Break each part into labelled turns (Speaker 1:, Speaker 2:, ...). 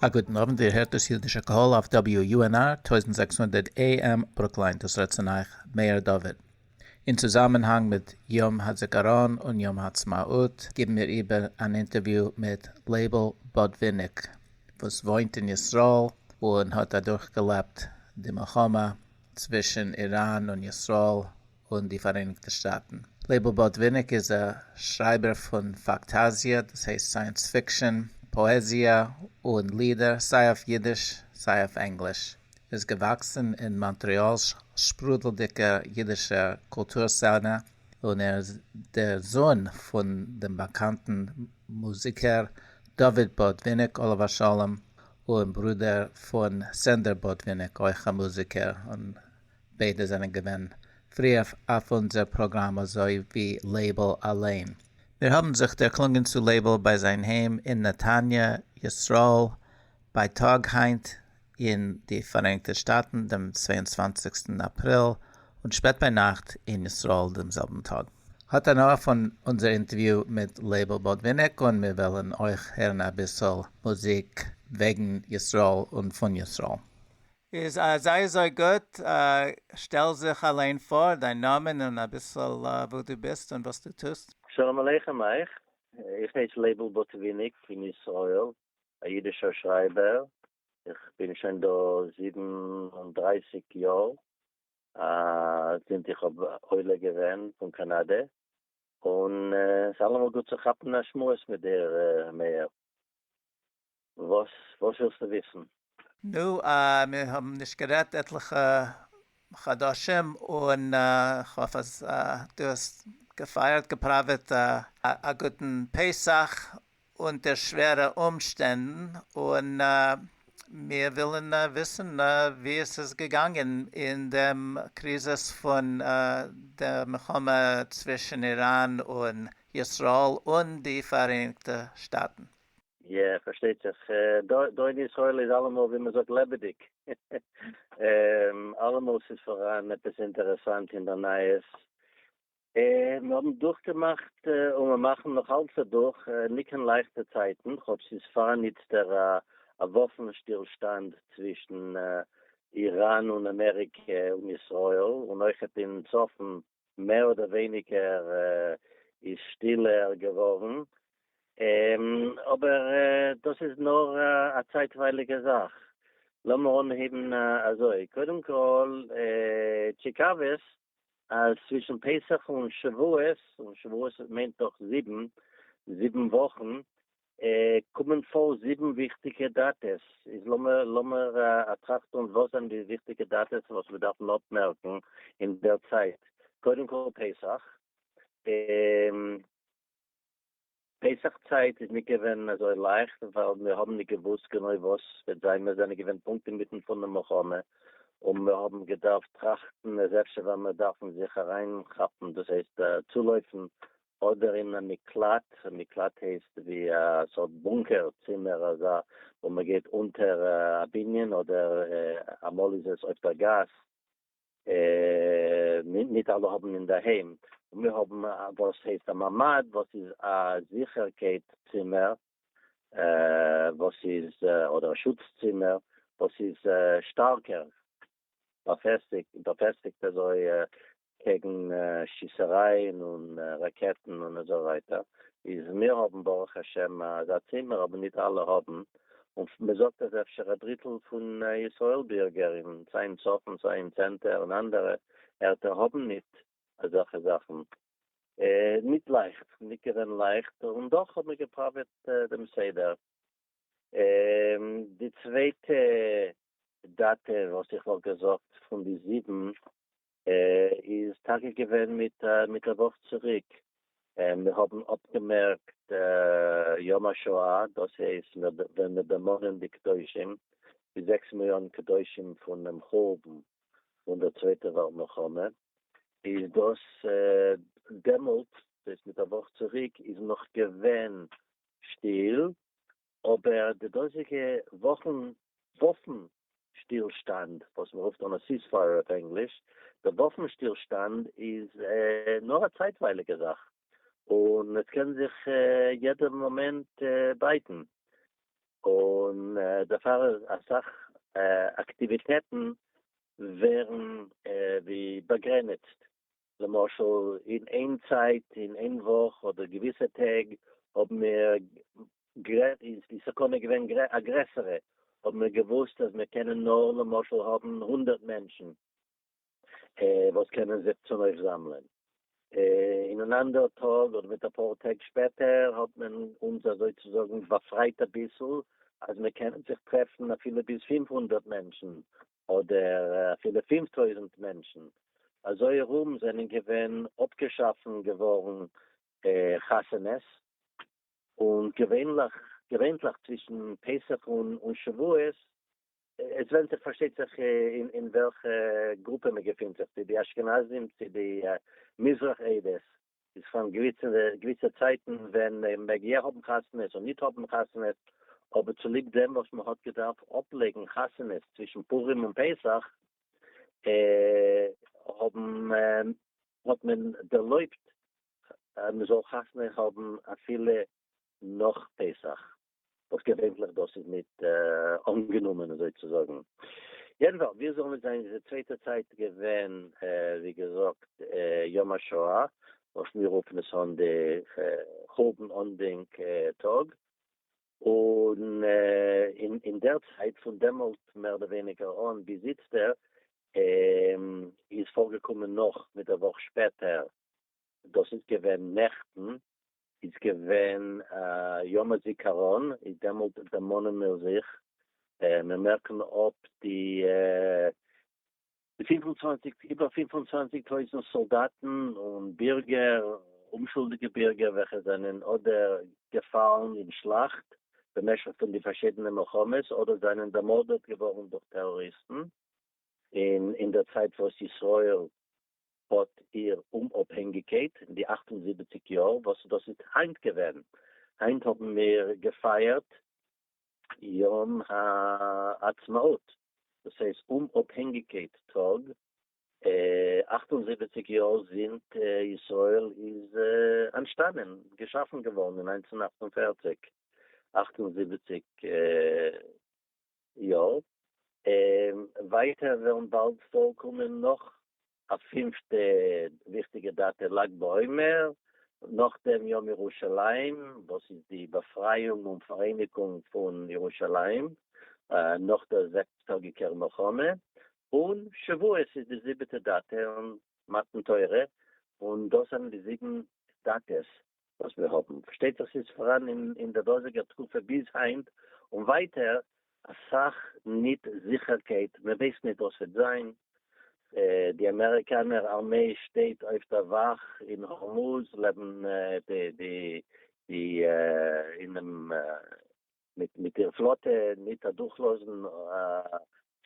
Speaker 1: א גוטן אוונט, איר הערט דאס יודישע קהל אויף WUNR טויזנט זעקס הונדערט AM ברוקלין, דאס רעדט צון אייך מאיר דוד. אין צוזאמענהאנג מיט יום הזיכרון און יום העצמאות גיבן מיר איבער אן אינטערוויו מיט לייבל בודוויניק וואס וואוינט אין ישראל און האט אדורכגעלעבט די מלחמה צווישן איראן און ישראל, און די פאראייניגטע שטאטן. לייבל באָטוויניק איז א שרייבער פון פאקטאזיע, דאס הייסט סייענס פיקשאן, פאעזיע און לידער, סיי אויף יידיש סיי אויף ענגליש. ער איז געוואקסן אין מאנטרעאל'ס שפרודלדיגער יידישער קולטור סצענע, און ער איז דער זון פון דעם באקאנטן מוזיקער דוד באָטוויניק עליו השלום, און ברודער פון סענדער באָטוויניק, אויך א מוזיקער און ביידע זענען געווען פריעף אויף אונזער פראגראם אזוי ווי לייבל אליין. מיר האבן זיך דערקלונגען צו לייבל ביי זיין היים אין נתניה ישראל בייטאג היינט אין די פאראייניגטע שטאטן דעם צוויי און צוואַנציקסטן אפריל און שפעט ביינאכט אין ישראל דעם זעלבן טאג. האט הנאה פון אונזער אינטערוויו מיט לייבל באדוויניק און מיר וועלן אויך הערן אביסל מוזיק וועגן ישראל און פון ישראל. איז זייער זייער גוט, שטעל זיך אליין פאר, דיין נאמען און אביסל וואו דו ביסט און וואס דו טוסט. שלום עליכם אייך,
Speaker 2: איך הייס לייבל בוטוויניק פון ישראל, א אידישער שרייבער, איך בין שוין דא זיבן און דרײַסיק יאר, זינט איך האב עולה געווען פון קאנאדע, און ס'אלעמאל גוט צו כאפן א שמועס מיט דיר מאיר. וואס וואס
Speaker 1: ווילסטו וויסן? נו, מיר האבן נישט גערעדט עטליכע חדשים, און כ'האף אז דו האסט געפייערט, געפראוועט, א גוטן פסח אונטער שווערע אומשטענדן, און מיר ווילן וויסן ווי עס איז געגאנגען אין דעם קריזיס פון די מלחמה צווישן איראן און ישראל און די פאראייניגטע שטאטן. יא,
Speaker 2: פארשטייט זיך, דוד ישראל איז אלעמאל ווי מען זאגט לעבעדיג, אלעמאל ס'איז פאראן עפעס אינטערעסאנט אין די נייעס, און מיר האבן דורכגעמאכט און מיר מאכן נאך אלץ אדורך ניט קיין לייכטע צייטן, כאטש ס'איז פאראן איצטער א וואפן שטילשטאנד צווישן איראן און אמעריקע און ישראל, און אויכעט אין צפון מער אדער ווייניגער איז שטילער געווארן, אבער דאס איז נאר א צייטווייליגע זאך. לאמיר אנהייבן אזוי, קודם כל טשיקאוועס אז צווישן פסח און שבועות, און שבועות מיינט דאך זיבן, זיבן וואכן, קומען פאר זיבן וויכטיגע דאטעס, איז לאמיר אטראכטען וואס זענען די וויכטיגע דאטעס וואס מיר דארפן אפמערקן אין דער צייט, קודם כל פסח, פסח צייט איז נישט געווען אזוי לייכט ווייל מיר האבן נישט געוואוסט גענוי וואס וועט זיין, מיר זענען געווען פונקט אינמיטן פון די מלחמה און מיר האבן געדארפט טראכטן איז אפשר וועלן מיר דארפן זיך אריינכאפן דאס הייסט צולויפן אדער אין א מקלט, מקלט הייסט ווי א סארט בונקער צימער אזא וואו מען גייט אונטער א בנין אדער אמאל איז עס אויף דער גאס, ניט אלע האבן אינדערהיים, און מיר האבן וואס הייסט א ממד וואס איז א זיכערקייט צימער וואס איז אדער א שוץ צימער וואס איז שטארקער באפעסטיגט אזוי קעגן שיסערייען און ראקעטן און אזוי ווייטער, איז מיר האבן ברוך השם אזא צימער אבער ניט אלע האבן, און מען זאגט אז אפשר א דריטל פון ישראל בירגער אין סיי אין צפון סיי אין צענטער און אנדערע ערטער האבן ניט אזעלכע זאכן, ניט לייכט, ניט געווען לייכט, און דאך האט מען געפראוועט דעם סדר. די צווייטע דעטע וואס איך וואלט געזאגט פון די זיבן איז טאקע געווען מיט מיט א וואך צוריק מיר האבן אפגעמערקט יום השואה דאס הייסט ווען מיר דערמאנען די קדושים די זעקס מיליאן קדושים פונעם חורבן פון דער צווייטע וועלט מלחמה איז דאס דעמאלט דאס מיט א וואך צוריק איז נאך געווען שטיל אבער די דאזיגע וואפן שטילשטאנד וואס מ'רופט אן א סיעספייער אויף ענגליש, די וואפן שטילשטאנד איז נאר א צייטווייליגע זאך, און עס קען זיך יעדע מאמענט בייטן, און דערפאר אסאך אקטיוויטעטן ווערן ווי באגרעניצט, למשל אין איין צייט אין איין וואך אדער געוויסע טעג האבן מיר גרעדט איז די סכנה געווען א גרעסערע האבן מיר געוואוסט אז מיר קענען נאר למשל האבן הונדערט מענטשן וואס קענען זיך צונויפזאמלען אין אן אנדערע טאג אדער מיט אפאר טעג שפעטער האט מען אונז אזוי צו זאגן באפרייט אביסל אז מיר קענען זיך טרעפן אפילו ביז פֿינף הונדערט מענטשן אדער אפילו פֿינף טויזנט מענטשן אזוי ארום זענען געווען אפגעשאפן געווארן חתונות, און געווענליך צווישן פסח און שבועות, עס ווענדט זיך פארשטייט זיך אין וועלכע גרופע מען געפינט זיך, צו די אשכנזים צו די מזרח עדות, איז פון געוויסע צייטן ווען מען מעג יא האבן חתונות און ניט האבן חתונות, אבער צוליב דעם וואס מען האט געדארפט אפלייגן חתונות צווישן פורים און פסח, האט מען ערלויבט אז מען זאל חתונה האבן אפילו נאך פסח. וואס געווענליך דאס איז ניט אנגענומען אזוי צו זאגן. יעדנפאלס, ווי עס זאל ניט זיין איז די צווייטע צייט געווען, ווי געזאגט, יום השואה, וואס מיר רופן עס אן די חורבן אנדענק טאג, און אין דער צייט, פון דעמאלט מער אדער ווייניגער אן ביז איצטער, איז פארגעקומען נאך מיט א וואך שפעטער, דאס איז געווען נעכטן, איז געווען א יום הזיכרון, איז דעמאלט דערמאנען מיר זיך, מיר מערקן אפ די פֿינף און צוואַנציק, איבער פֿינף און צוואַנציק טויזנט סאלדאטן און בירגער, אומשולדיגע בירגער וועלכע זענען אדער געפאלן אין שלאכט במשך פון די פארשידענע מלחמות, אדער זענען דערמארדעט געווארן דורך טעראריסטן, און אינדערצייט וואס ישראל האט איר אומאפהענגיקייט אין די אַכט און זיבעציק יאר וואס דאס איז היינט געווען, היינט האבן מיר געפייערט יום העצמאות, דאס הייסט אומאפהענגיקייט טאג, אַכט און זיבעציק יאר זינט ישראל איז אנטשטאנען, געשאפן געווארן אין נײַנצן אַכט און פֿערציק, אַכט און זיבעציק יא, און ווייטער וועלן באלד פארקומען נאך א פינפטע וויכטיגע דאטע לג בעומר, נאכדעם יום ירושלים וואס איז די באפרייאונג און פאראייניגונג פון ירושלים נאך דער זעקס טאגיקער מלחמה, און שבועות איז די זיבעטע דאטע און מתן תורה, און דאס זענען די זיבן דאטעס וואס מיר האבן, פארשטייט זיך ס'איז פאראן אין די דאזיגער תקופה ביז היינט און ווייטער, אסאך ניט זיכערקייט, מען ווייסט ניט וואס וועט זיין, די אמעריקאנער ארמיי שטייט אויף דער וואך אין הורמוז לעבן די אינעם מיט איר פלאטע ניט אדורכלאזן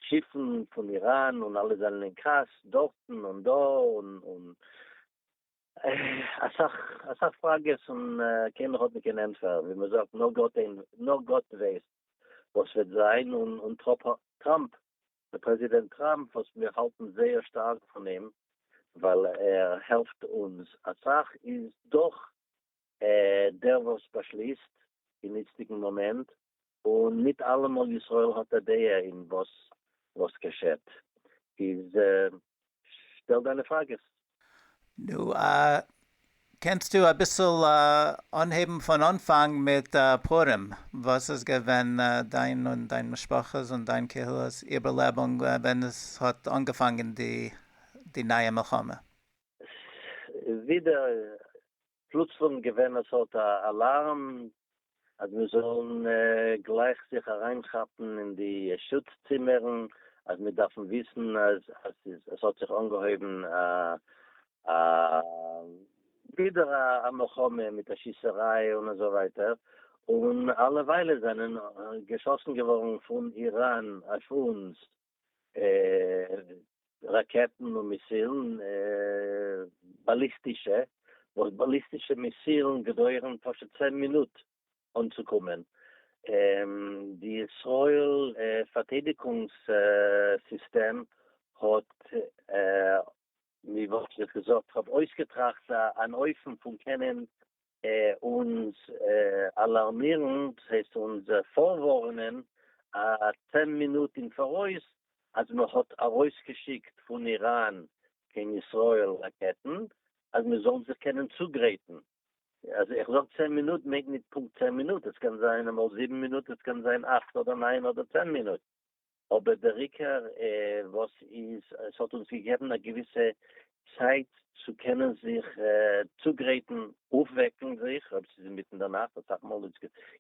Speaker 2: שיפן פון איראן און אלע זענען אין כעס דארטן און דא און. אסאך אסאך פראגעס און קיינער האט נישט קיין ענטפער, ווי מען זאגט נאר גאט אין נאר גאט ווייסט וואס וועט זיין, און און טראפ טראמפ דער פרעזידענט טראמפ וואס מיר האלטן זייער שטארק פון אים ווייל ער העלפט אונז אסאך איז דאך ער דער וואס באשליסט אין איצטיגן מאמענט און ניט אַלעמאָל ישראל האָט אַ דעה אין וואָס
Speaker 1: וואָס געשעט. איז שטעל דיינע פראַגעס. נו, קענסטו אביסל אנהייבן פון אנפאנג מיט פורים? וואס איז געווען דיין און דיין משפחה'ס און דיין קהילה'ס איבערלעבונג ווען עס האט אנגעפאנגען די נייע מלחמה? ווידער
Speaker 2: פלוצלונג געווען עס האט א אלארם אז מיר זאלן גלייך זיך אריינכאפן אין די שוץ צימערן אז מיר דארפן וויסן אז עס האט זיך אנגעהויבן א ווידער א מלחמה מיט א שיסעריי און אזוי ווייטער, און אלע וויילער זענען געשאסן געווארן פון איראן אויף אונז. ראקעטן און מיסילן, באליסטישע, וואס באליסטישע מיסילן געדויערן פשוט צען מינוט אנצוקומען, די ישראל פארטיידיגונגס סיסטעם האט ווי וואלט איך געזאגט האט אויסגעטראכט אן אופן פון קענען אונז אלארמירן, דאס הייסט אונז פארווארענען א צען מינוט אין פאראויס אז מען האט ארויסגעשיקט פון איראן קיין ישראל ראקעטן אז מען זאל זיך קענען צוגרייטן, אז איך זאג צען מינוט מיינט נישט פונקט צען מינוט, עס קען זיין אמאל זיבן מינוט, עס קען זיין אכט אדער ניין אדער צען מינוט. אבער דער עיקר וואס איז עס האט אונז געגעבן א געוויסע צייט צו קענען זיך צוגרייטן אויפוועקן זיך אויב ס'איז אינמיטן דער נאכט אסאך מאל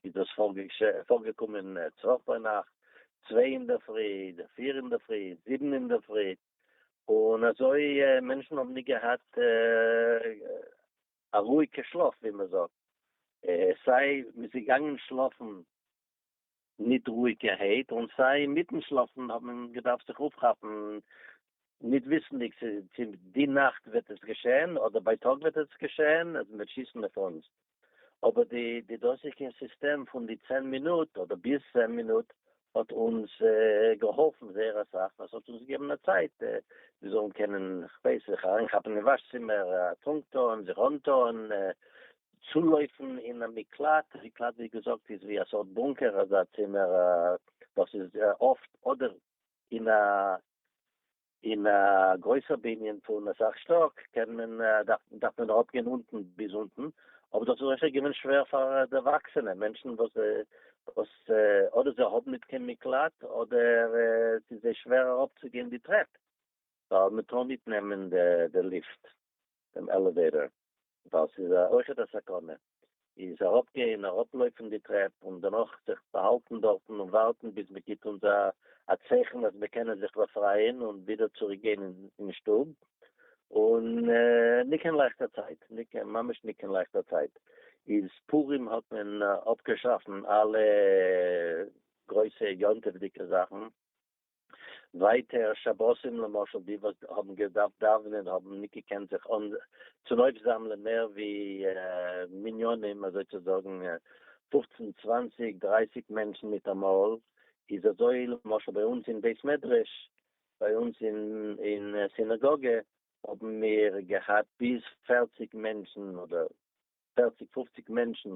Speaker 2: איז דאס פארגעקומען צוואך ביינאכט צוויי אינדערפרי אדער פיר אינדערפרי זיבן אינדערפרי און אזוי מענטשן האבן נישט געהאט א רואיגע שלאף ווי מ'זאגט סיי מ'איז געגאנגען שלאפן ניט רואיקערהייט, און סיי מיטן שלאפן האט מען געדארפט זיך אויפכאפן, ניט וויסנדיג צו צו די נאכט וועט עס געשען אדער בייטאג וועט עס געשען אז מ'וועט שיסן אויף אונז. אבער די די דאזיגע סיסטעם פון די צען מינוט אדער ביז צען מינוט האט אונז געהאלפן זייער אסאך, ווייל ס'האט אונז געגעבן א צייט מיר זאלן קענען כ'ווייס זיך אריינכאפן אין וואש צימער, א טרונק טון, זיך אנטון, צולויפן אין א מקלט, מקלט ווי געזאגט איז ווי א סארט בונקער, אזא צימער וואס איז אפט אדער אין א אין א גרויסער בנין פון אסאך שטאק, קען מען דארף מען אראפ גיין אונטן ביז אונטן, אבער דאס איז אפשר געווען שווער פאר דערוואקסענע מענטשן וואס וואס אדער זיי האבן נישט קיין מקלט אדער עס איז זיי שווער אראפ צו גיין די טרעפ, ווייל מען טאר נישט נעמען די ליפט, דעם עלעוועיטאר, ווייל ס'איז אויכעט א סכנה איז אראפגיין אראפלויפן די טרעפ און דערנאך זיך באהאלטן דארטן און ווארטן ביז מען גיבט אונז א צייכן אז מיר קענען זיך באפרייען און ווידער צוריק גיין אין שטוב, און ניט קיין לייכטער צייט, ממש ניט קיין לייכטער צייט, איז פורים האט מען אפגעשאפן אלע גרויסע יום טוב'דיגע זאכן, ווייטער שבתים למשל די וואס האבן געדארפט דאווענען האבן ניט געקענט זיך צונויפזאמלען מער ווי מניינים אזוי צו זאגן פופצן צוואנציג דרייסיג מענטשן מיטאמאל איז אזוי למשל ביי אונז אין בית מדרש ביי אונז אין סינאגאגע האבן מיר געהאט ביז פערציג מענטשן אדער פערציג פופציג מענטשן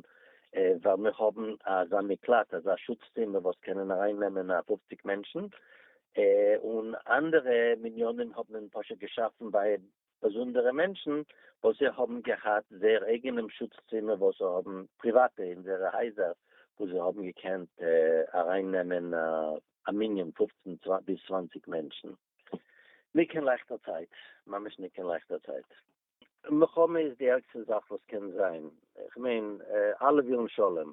Speaker 2: ווייל מיר האבן אזא מקלט אזא שוץ צימער וואס קענען אריין נעמען א פופציג מענטשן, און אנדערע מניינים האט מען פשוט געשאפן ביי באזונדערע מענטשן וואס זיי האבן געהאט זייער אייגענעם שוץ צימער וואס זיי האבן פריוואטע אין זייערע הייזער וואו זיי האבן געקענט אריין נעמען א מנין פופצן ביז צוואנציג מענטשן ניט קיין לייכטער צייט, ממש ניט קיין לייכטער צייט. מלחמה איז די ערגסטע זאך וואס קען זיין, איך מיין אלע ווילן שלום,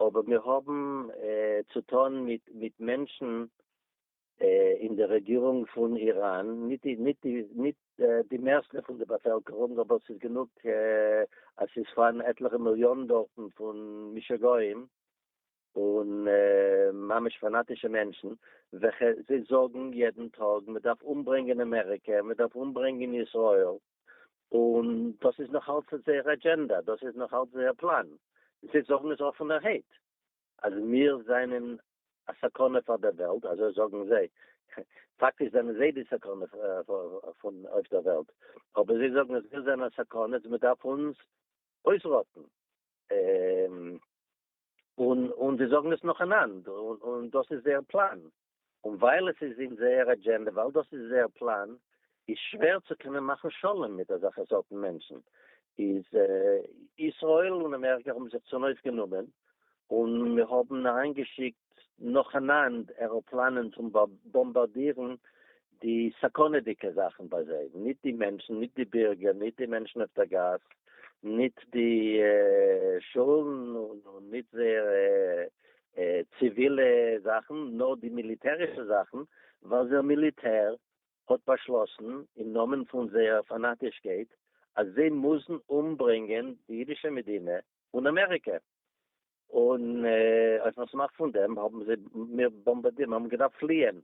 Speaker 2: אבער מיר האבן צו טון מיט מענטשן אין די רעגירונג פון איראן, נישט די מערסטע פון די באפעלקערונג, אבער ס'איז גענוג אז ס'איז פארהאן עטליכע מיליאן דארטן פון משוגעים, און ממש פאנאטישע מענטשן וועלכע זיי זאגן יעדן טאג מען דארף אומברענגען אמעריקע מען דארף אומברענגען ישראל און דאס איז נאך אלץ זייער אדזשענדא דאס איז נאך אלץ זייער פלאן זיי זאגן עס אפענערהייט אז מיר זענען א סכנה פאר דער וועלט אזוי זאגן זיי פאקטיש זענען זיי די סכנה פון אויף דער וועלט אבער זיי זאגן אז מיר זענען א סכנה מען דארף אונז אויסראטן. און זיי זאגן עס נאכאנאנד, און דאס איז זייער פלאן, און ווייל עס איז אין זייער אדזשענדע, ווייל דאס איז זייער פלאן, איז שווער צו קענען מאכן שלום מיט אזעלכע סארטן מענטשן, איז ישראל און אמעריקא האבן זיך צונויף גענומען, און מיר האבן אריינגעשיקט נאכאנאנד עראפלאנען צו באמבארדירן די סכנה'דיגע זאכן ביי זיי, ניט די מענטשן, ניט די בירגער, ניט די מענטשן אויף דער גאס, ניט די שולן און ניט זייערע ציווילע זאכן, נאר די מיליטערישע זאכן, ווייל דער מיליטער האט באשלאסן, אין נאמען פון זייער פאנאטישקייט, אז זיי מוזן אומברענגען די אידישע מדינה און אמעריקע. און אויפן אפסמאך פון דעם האבן זיי מיר באמבאדירט, מיר האבן געדארפט פליען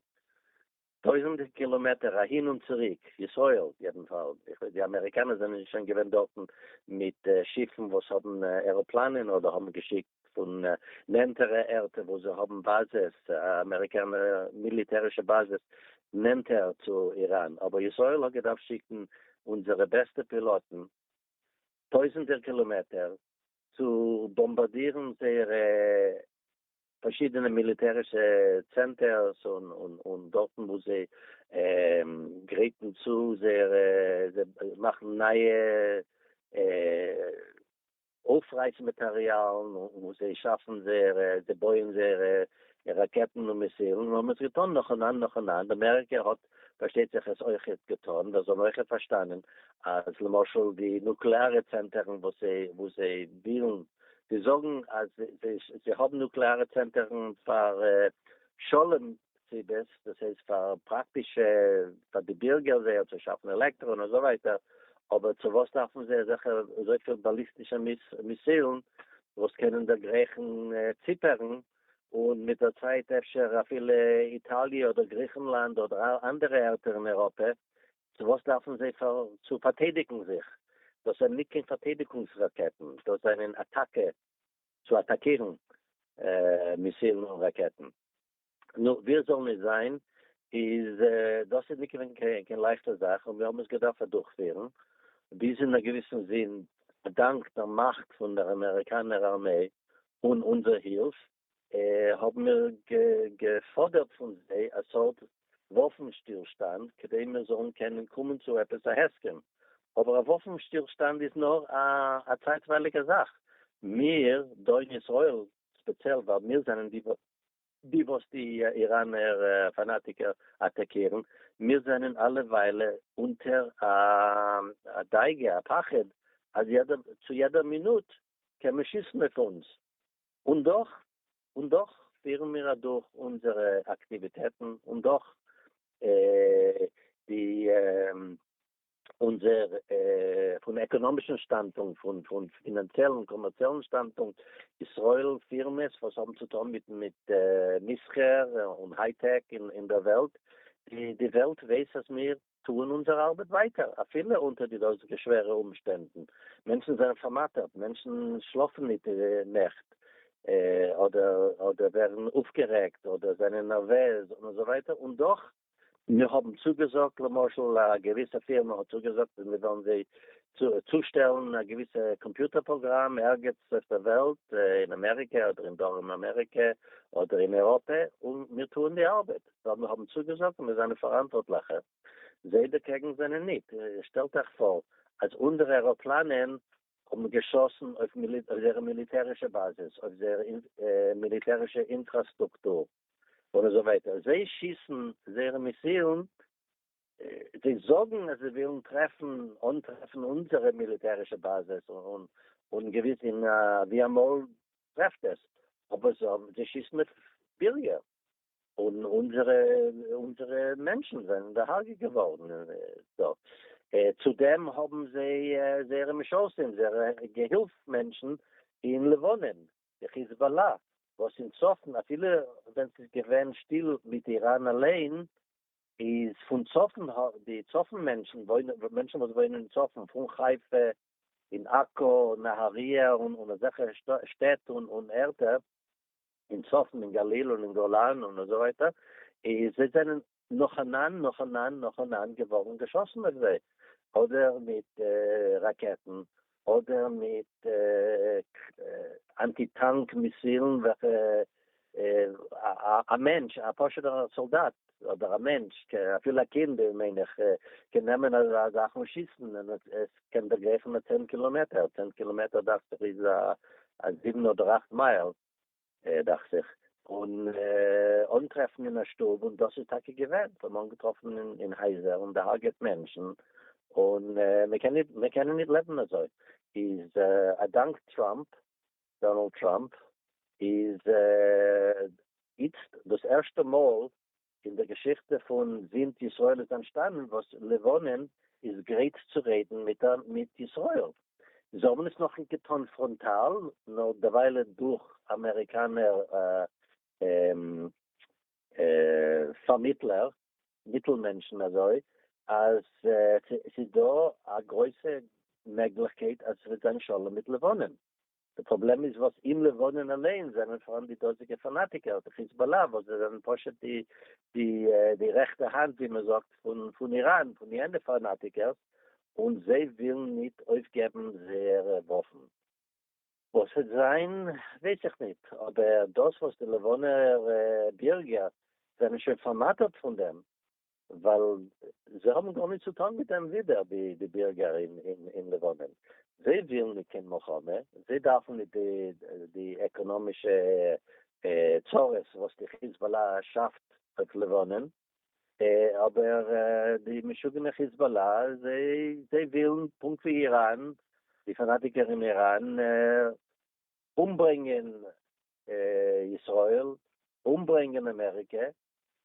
Speaker 2: טויזענטע קילאמעטער אהין און צוריק, ישראל יעדנפאל, די אמעריקאנער זענען שוין געווען דארטן מיט שיפן וואס האבן עראפלאנען אדער האבן געשיקט פון נענטערע ערטער וואו זיי האבן באזעס, אמעריקאנע מיליטערישע באזעס נענטער צו איראן, אבער ישראל האט געדארפט שיקן אונזערע בעסטע פילאטן טויזענטער קילאמעטער צו באמבאדירן זייערע פארשידענע מיליטערישע צענטערס און דארטן וואו זיי גרייטן צו זייערע, זיי מאכן נייע אויפרייס מאטעריאלן און וואו זיי שאפן זייערע, זיי בויען זייערע ראקעטן און מיסילן און האבן עס געטאן נאכאנאנד נאכאנאנד, אמעריקע האט פארשטייט זיך עס אויכעט געטון, ווער זאל אויכעט פארשטאנען אז למשל די נוקלעארע צענטערן וואס זיי וואס זיי ווילן, זיי זאגן אז זיי זיי האבן נוקלעארע צענטערן פאר שלום סיבות, דאס הייסט פאר פראקטישע פאר די בירגער זייער צו שאפן עלעקטרא און אזוי ווייטער, אבער צו וואס דארפן זיי אזעלכע אזויפיל באליסטישע מיסילן וואס קענען דערגרייכן ציפערן און מיט דער צייט אפשר אפילו איטאליע אדער גריכנלאנד אדער אנדערע ערטער אין אייראפע, צו וואס דארפן זיי צו פארטיידיגן זיך? דאס זענען ניט קיין פארטיידיגונגס ראקעטן, דאס זענען אטאקע צו אטאקירן מיסילן און ראקעטן. נו, ווי עס זאל ניט זיין, איז דאס איז ניט געווען קיין לייכטע זאך, און מיר האבן עס געדארפט אדורכפירן, ביז אין א געוויסן זין, אדאנק דער מאכט פון דער אמעריקאנער ארמעי, אן אונזער הילף האבן מיר געפאדערט פון זיי א סארט וואפן שטילשטאנד כדי מיר זאלן קענען קומען צו עפעס א הסכם, אבער א וואפן שטילשטאנד איז נאר א צייטווייליגע זאך, מיר דאהי אין ישראל ספעציעל ווייל מיר זענען די די וואס די איראנער פאנאטיקער אטאקירן, מיר זענען אלע וויילע אונטער א דאגה, א פחד, אז יעדער, צו יעדער מינוט קען מען שיסן אויף אונז, און דאך, און דאך פירן מיר אדורך אונזערע אקטיוויטעטן, און דאך, די. אונזער פון עקאנאמישן שטאנדפונקט, פון פון פינאנציעלן קאמערציעלן שטאנדפונקט, ישראל פירמעס וואס האבן צו טון מיט מיט מסחר און היי טעק אין דער וועלט, די די וועלט ווייס אז מיר טוען אונזער ארבעט ווייטער אפילו אונטער די דאזיגע שווערע אומשטענדן, מענטשן זענען פארמאטערט, מענטשן שלאפן ניט נעכט, אדער אדער ווערן אויפגערעגט, אדער זענען נערוועז און אזוי ווייטער, און דאך מיר האבן צוגעזאגט, למשל א געוויסע פירמע האט צוגעזאגט אז מיר וועלן זיי צושטעלן א געוויסע קאמפיוטער פראגראם ערגעץ אויף דער וועלט, אין אמעריקע אדער אין דרום אמעריקע אדער אין אייראפע, און מיר טוען די ארבעט ווייל מיר האבן צוגעזאגט און מיר זענען פאראנטווארטליכע. זיי דערקעגן זענען ניט. שטעלט אייך פאר אז אנדערע עראפלאנען האבן געשאסן אויף זייערע מיליטערישע באזעס, אויף זייער מיליטערישע אינטראסטרוקטור, און אזוי ווייטער. זיי שיסן זייערע מיסילן, זיי זאגן אז זיי ווילן טרעפן, אנטרעפן אונזערע מיליטערישע באזעס, און געוויס ווי אמאל טרעפט עס, אבער זיי שיסן אויף בירגער. און אונזערע אונזערע מענטשן זענען דערהארגעט געווארן דארט, צו דעם האבן זיי זייערע משרתים זייערע געהילף מענטשן אין לבנון די חיזבאללה וואס אין צפון אפילו ווען ס'איז געווען שטיל מיט איראן אליין איז פון צפון די צפון מענטשן וואוינען מענטשן וואס וואוינען אין צפון פון חיפה און עכו און נהריה און אזעלכע שטעט און ערטער אין צפון אין גליל און אין גולן און אזוי ווייטער, איז זיי זענען נאכאנאנד נאכאנאנד נאכאנאנד געווארן געשאסן אויף זיי, אדער מיט ראקעטן, אדער מיט אנטי טאנק מיסילן וועלכע א מענטש א פשוט'ער סאלדאט אדער א מענטש, אפילו א קינד מיין איך, קען נעמען א זאך און שיסן און עס קען דערגרייכן א צען קילאמעטער, צען קילאמעטער דאכט זיך איז א זיבן אדער אכט מייל דאכט זיך, און אנטרעפן אין א שטוב, און דאס איז טאקע געווען, זיי האבן אנגעטראפן אין הייזער און דעהארגעט מענטשן, און מיר קענען נישט לעבן אזוי, איז א דאנק טראמפ דאנאלד טראמפ איז איצט דאס ערשטע מאל אין דער געשיכטע פון זינט ישראל איז אנטשטאנען וואס לבנון איז גרייט צו רעדן מיט ישראל. זיי האבן עס נאכניט געטאן פראנטאל, נאר דערוויילע דורך אמעריקאנער פארמיטלער, מיטל מענטשן אזוי אז ס'איז דא א גרויסע מעגליכקייט אז ס'וועט זיין שלום מיט לבנון, די פראבלעם איז וואס אין לבנון אליין זענען פאראן די דאזיגע פאנאטיקער, די חיזבאלא וואס זיי זענען פשוט די די די רעכטע האנט ווי מען זאגט פון פון איראן פון יענע פאנאטיקערס, און זיי ווילן ניט אויפגעבן זייערע וואפן. וואס וועט זיין ווייס איך ניט, אבער דאס וואס די לבנונער בירגער זענען שוין פארמאטערט פון דעם, ווייל זיי האבן גארניט צו טאן מיט דעם ווידער ווי די בירגער אין לבנון, זיי ווילן ניט קיין מלחמה, זיי דארפן ניט די עקאנאמישע צרות וואס די חיזבאללה שאפט אויף לבנון, אבער די משוגענע חיזבאלא זיי ווילן פונקט ווי איראן די פאנאטיקער אין איראן אומברענגען ישראל אומברענגען אמעריקע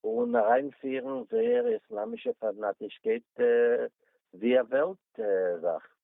Speaker 2: און אריינפירן זייער איסלאמישע פאנאטישקייט ווי א וועלט זאך.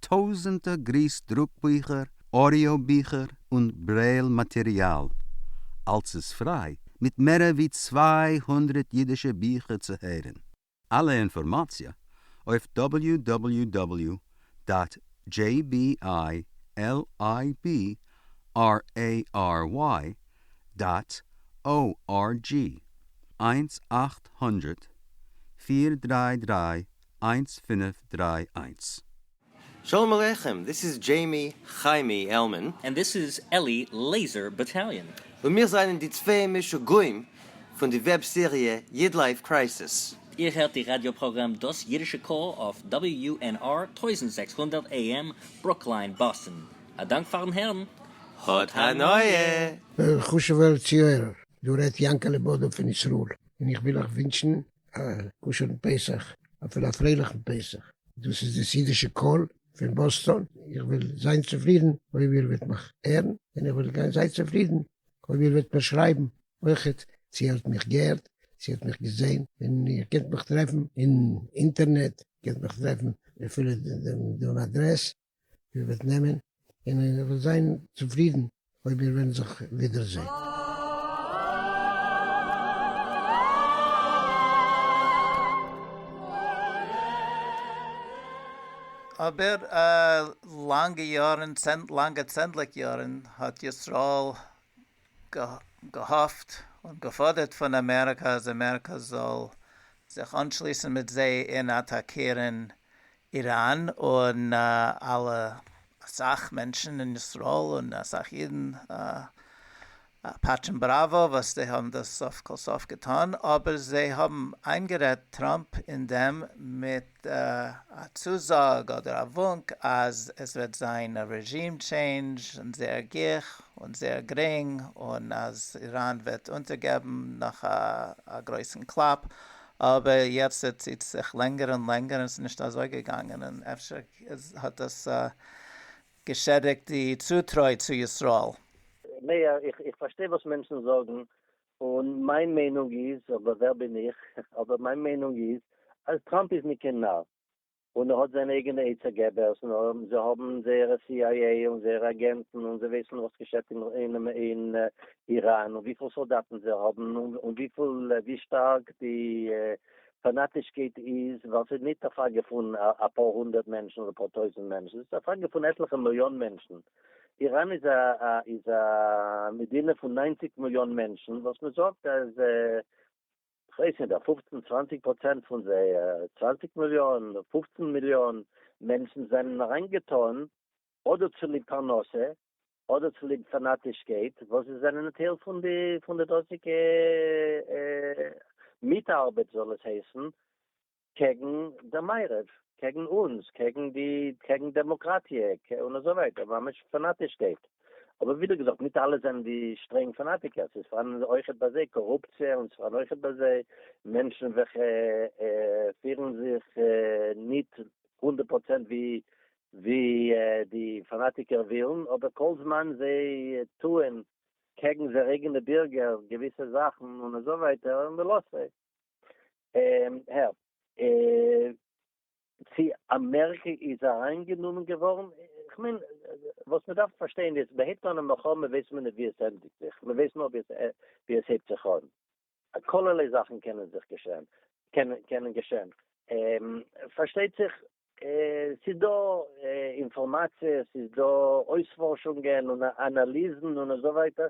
Speaker 3: טויזענטער גריס דרוק ביכער, אודיאו ביכער און ברעיל מאטעריאל, אלס איז פריי, מיט מערער ווי צוויי הונדרעט אידישע ביכער צו הערען. אלע אינפארמאציע אויף דאבעליו דאבעליו דאבעליו דאט דזשעי בי איי על איי בי אר עי אר וויי דאט או אר דזשי, איינס אַכט הונדערט פֿיר דרײַ דרײַ איינס פינף דריי איינס. שלום
Speaker 4: עליכם, דיס איז דזשעימי חיימי עלמען. און דיס איז אלי
Speaker 5: לעיזער באטאליאן. און מיר זענען די
Speaker 4: צוויי משוגעים פון די וועב סעריע איד לייף קרייסיס. איר הערט די ראדיא
Speaker 5: פראגראם דאס אידישע קול אויף WNR טויזנט זעקס הונדערט AM ברוקלין באסטן. א דאנק פארן הערן. האט הנאה!
Speaker 4: וועלכע חשוב'ער
Speaker 6: ציויערער דא רעדט יענקעלע בודא פון ישראל, און איך וויל אייך ווינטשן א כשר'ן פסח, אפילו א פרייליכן פסח. דאס איז דאס אידישע קול פון באסטאן, איך וועל זיין צופרידן אויב איר וועט מיך הערן, און איך וועל גיין זייער צופרידן אויב איר וועט מיר שרייבן אויכעט צו איר האט מיך געהערט, צו איר האט מיך געזען, און איר קענט מיך טרעפן אין אינטערנעט, איר קענט מיך טרעפן אפילו דעם אדרעס. איר וועט נעמען און איר וועט זיין צופרידן אויב מיר וועלן זיך ווידער זען.
Speaker 1: אבער לאנגע יארן, לאנגע צענדליג יארן, האט ישראל געהאפט און געפאדערט פון אמעריקא אז אמעריקא זאל זיך אנשליסן מיט זיי און אטאקירן איראן און אלע אסאך מענטשן אין ישראל און אסאך אידן פאטשן בראווא וואס זיי האבן דאס סוף כל סוף געטון אבער זיי האבן איינגערעדט טראמפ אין דעם מיט א צוזאג אדער א וואונק אז עס וועט זיין א רעזשים טשעינדזש און זייער גיך און זייער גרינג און אז איראן וועט אונטערגעבן נאך א גרויסן קלאפ אבער יעצט ער ציט זיך לענגער און לענגער און עס איז נישט אזוי געגאנגען און אפשר האט דאס געשעדיגט די צוטרוי צו ישראל. מאיר,
Speaker 2: איך פארשטיי וואס מענטשן זאגן, און מיין מיינונג איז, אבער ווער בין איך, אבער מיין מיינונג איז אז טראמפ איז ניט קיין נאר, און ער האט זיינע אייגענע עצה געבערס און זיי האבן זייערע סי איי עי און זייערע אגענטן און זיי ווייסן וואס געשעט אין איראן און וויפיל סאלדאטן זיי האבן און ווי שטארק די פאנאטישקייט איז ווייל ס'איז נישט א פראגע פון אפאר הונדערט מענטשן אדער אפאר טויזענט מענטשן ס'איז א פראגע פון עטליכע מיליאן מענטשן. איראן איז א מדינה פון נײַנציק מיליאן מענטשן וואס מ'זאגט אז כ'ווייס ניט, א פופצן צוואנציג פראצענט פון זיי, צוואנציג מיליאן, פופצן מיליאן, מענטשן זענען אריינגעטאן, אדער צוליב פרנסה, אדער צוליב פאנאטישקייט, וואס זיי זענען א טייל פון די פון די דאזיגע מיטארבעט זאל עס הייסן, קעגן דער מערב, קעגן אונז, קעגן די, קעגן דעמאקראטיע, און אזוי ווייטער, ממש פאנאטישקייט. אבער ווידער געזאגט, ניט אלע זענען די שטרענג פאנאטיקער, ס'איז פארהאן אויכעט ביי זיי קארופציע, און ס'איז פארהאן אויכעט ביי זיי מענטשן וועלכע פירן זיך ניט הונדערט פראצענט ווי די פאנאטיקער ווילן, אבער כל זמן זיי טוען קעגן זייערע אייגענע בירגער געוויסע זאכן און אזוי ווייטער, מ'לאזט זיי. און הער צו אמעריקע איז אריין גענומען געווארן, כ'מיין וואס מען דארף פארשטיין איז מען הייבט אן א מלחמה ווייסט מען נישט ווי עס ענדיגט זיך מען ווייסט נאר ווי עס הייבט זיך אן, כלערליי זאכן קענען זיך געשען קענען געשען פארשטייט זיך ס'איז דא אינפארמאציע ס'איז דא אויספארשונגען און אנאליזן און אזוי ווייטער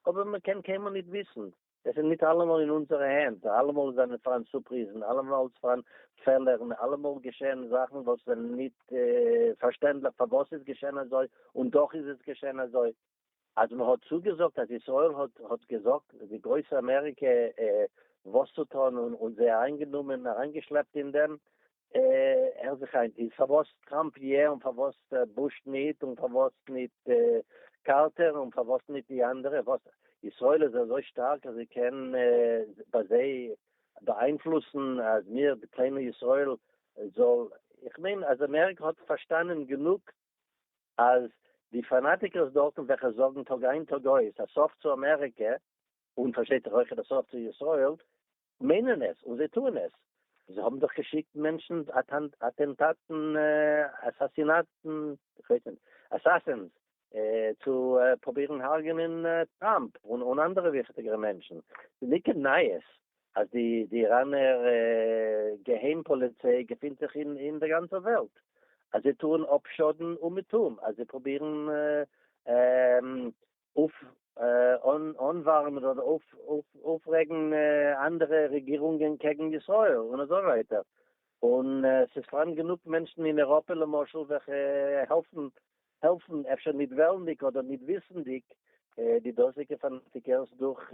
Speaker 2: אבער מען קען קיינמאל נישט וויסן עס איז ניט אַלעמאָל אין אונדזערע הענט, אַלעמאָל זײַנען פֿאַראַן סופּריזן, אַלעמאָל פֿאַראַן פֿעלערן, אַלעמאָל געשעען זאַכן, װאָס זענען ניט פֿאַרשטענדלעך פֿאַר װאָס ס'איז געשען אַזױ, און דאָך איז עס געשען אַזױ. אַז מע האָט צוגעזאָגט, אַז ישׂראל האָט, האָט געזאָגט די גרױסע אַמעריקע, װאָס צו טאָן, און זײ אַרײַנגענומען, אַרײַנגעשלעפּט אין דעם, הער זיך איין, איז פארוואס טראמפ יע און פארוואס בוש ניט און פארוואס ניט קארטער און פארוואס ניט די אנדערע, וואס ישראל איז אזוי שטארק אז זי קען ביי זיי באאיינפלוסן אז מיר די קליינע ישראל זאל, איך מיין אז אמעריקע האט פארשטאנען גענוג אז די פאנאטיקערס דארטן וועלכע זאגן טאג איין טאג אויס א סוף צו אמעריקע און פארשטייט זיך אויכעט א סוף צו ישראל מיינען עס און זיי טוען עס, זיי האבן דאך געשיקט מענטשן אטענטאטן אסאסינאטן אסאסינס צו פרובירן הרג'נען טראמפ און אנדערע וויכטיגערע מענטשן, ס'איז ניט קיין נייעס אז די איראנער געהיים פאליציי געפינט זיך אין דער גאנצער וועלט, אז זיי טוען אפשאדן אומעטום, אז זיי פרובירן אנווארעמען אדער אויפרעגן אנדערע רעגירונגען קעגן ישראל און אזוי ווייטער, און ס'איז פארהאן גענוג מענטשן אין אירופה למשל וועלכע העלפן העלפן, אפשר נישט וועלנדיג אדער נישט וויסנדיג, די דאזיגע פאנאטיקערס דורך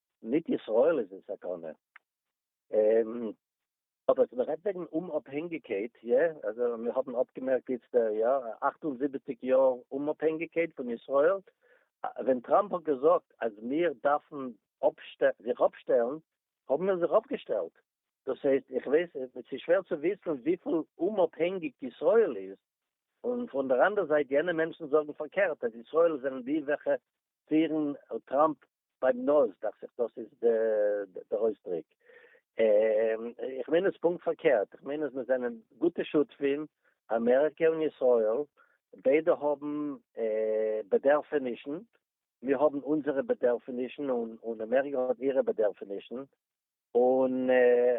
Speaker 2: ניט ישראל איז אין סכנה. אָבער אַז מע רעדט וועגן אומאָפּהענגיקייט, יע, אַזוי מיר האָבן אָפּגעמערקט איצט, יאָ, אַכט און זיבעציק יאָר אומאָפּהענגיקייט פֿון ישראל, ווען טראַמפּ האָט געזאָגט, אַז מיר דאַרפֿן אָפּשטעלן, זיך אָפּשטעלן, האָבן מיר זיך אָפּגעשטעלט. דאָס הייסט, איך ווייס, עס איז שווער צו וויסן וויפֿל אומאָפּהענגיק ישראל איז, און פֿון דער אַנדער זײַט, יענע מענטשן זאָגן פֿאַרקערט, אַז ישראל זענען די, וועלכע פֿירן טראַמפּ ביים נאז דאכט זיך דאס איז די אויסדריק, איך מיין עס פונקט פארקערט, איך מיין אז מיר זענען גוטע שותפים, אמעריקע און ישראל, ביידע האבן בעדערפענישן, מיר האבן אונזערע בעדערפענישן און אמעריקע האט אירע בעדערפענישן, און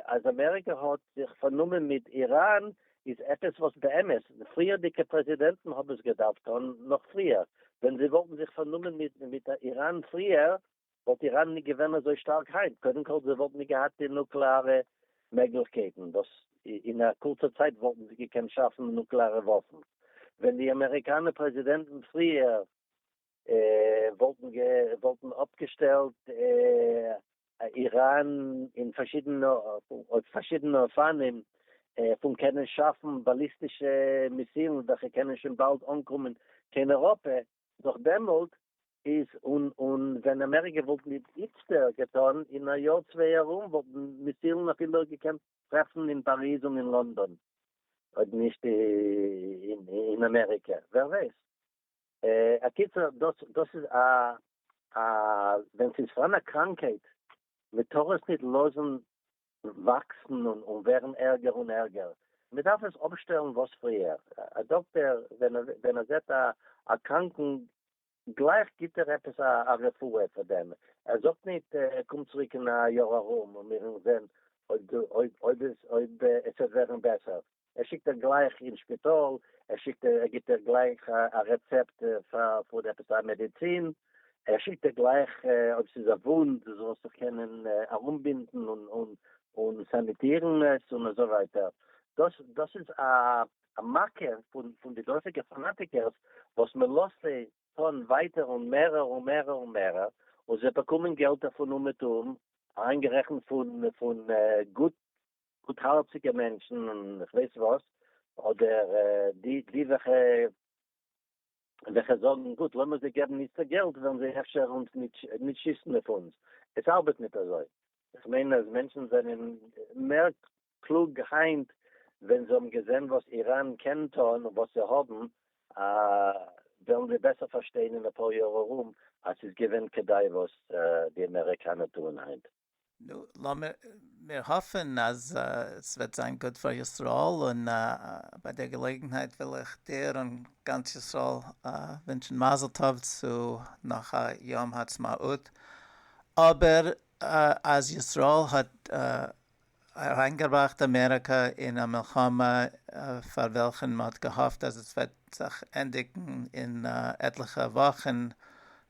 Speaker 2: אז אמעריקע האט זיך פארנומען מיט איראן איז עפעס וואס באמת די פריערדיגע פרעזידענטן האבן עס געדארפט טון נאך פריער, ווען זיי וואלטן זיך פארנומען מיט מיט איראן פריער וואלט איראן נישט געווען אזוי שטארק היינט, קודם כל זיי וואלטן נישט געהאט די נוקלעארע מעגליכקייטן וואס אין א קורצע צייט וואלטן זיי געקענט שאפן נוקלעארע וואפן, ווען די אמעריקאנע פרעזידענטן פריער וואלטן אפגעשטעלט איראן אין פארשידענע אופנים פון קענען שאפן באליסטישע מיסילן וועלכע קענען שוין באלד אנקומען קיין אייראפע, נאך דעמאלט איז און ווען אמעריקע וואלט ניט איצטער געטאן אין א יאר צוויי ארום וואלטן מיסילן אפילו געקענט טרעפן אין פאריז און אין לאנדאן אויב נישט אין אמעריקע ווער ווייסט. א קיצור דאס דאס איז א א ווען ס'איז פארהאן א קראנקהייט מען טאר עס ניט לאזן וואקסן און און ווערן ערגער און ערגער, מען דארף עס אפשטעלן וואס פריער, א דאקטער ווען ווען ער זעט א א קראנקן גלייך גיט ער עפעס א רפואה פאר דעם, ער זאגט ניט קום צוריק אין א יאר ארום און מיר וועלן זען אויב דו אויב אויב עס אויב עס וועט ווערן בעסער. ער שיקט איר גלייך אין שפיטאל, ער שיקט איר, ער גיבט איר גלייך א רעצעפט פון עפעס א מעדיצין, ער שיקט איר גלייך אויב ס'איז א וואונד זאל ער זיך קענען ארומבינדן און סאניטירן עס און אזוי ווייטער, דאס דאס איז א מכה פון די דאזיגע פאנאטיקערס וואס מען לאזט זיי טון ווייטער און מערער און מערער און מערער, און זיי באקומען געלט דערפון אומעטום, אריינגערעכנט פון גוט גוטהארציגע מענטשן און כ'ווייס וואס, אדער די וועלכע וועלכע זאגן גוט לאמיר זיי געבן איצטער געלט וועלן זיי אפשר אונז נישט שיסן אויף אונז, עס ארבעט ניט אזוי, כ'מיין אז מענטשן זענען מער קלוג היינט ווען זיי האבן געזען וואס איראן קען טון און וואס זיי האבן וועלן זיי בעסער פארשטיין אין אפאר יאר ארום אז ס'איז געווען כדאי וואס די אמעריקאנער טוען היינט. נו, לאמיר
Speaker 1: מיר האפן אז ס'וועט זיין גוט פאר ישראל, און ביי דער געלעגנהייט וויל איך דיר און גאנץ ישראל ווינטשן מזל טוב צו נאך א יום העצמאות, אבער אז ישראל האט אריינגעבראכט אמעריקא אין א מלחמה פאר וועלכן מען האט געהאפט אז עס וועט זיך ענדיגן אין עטליכע וואכן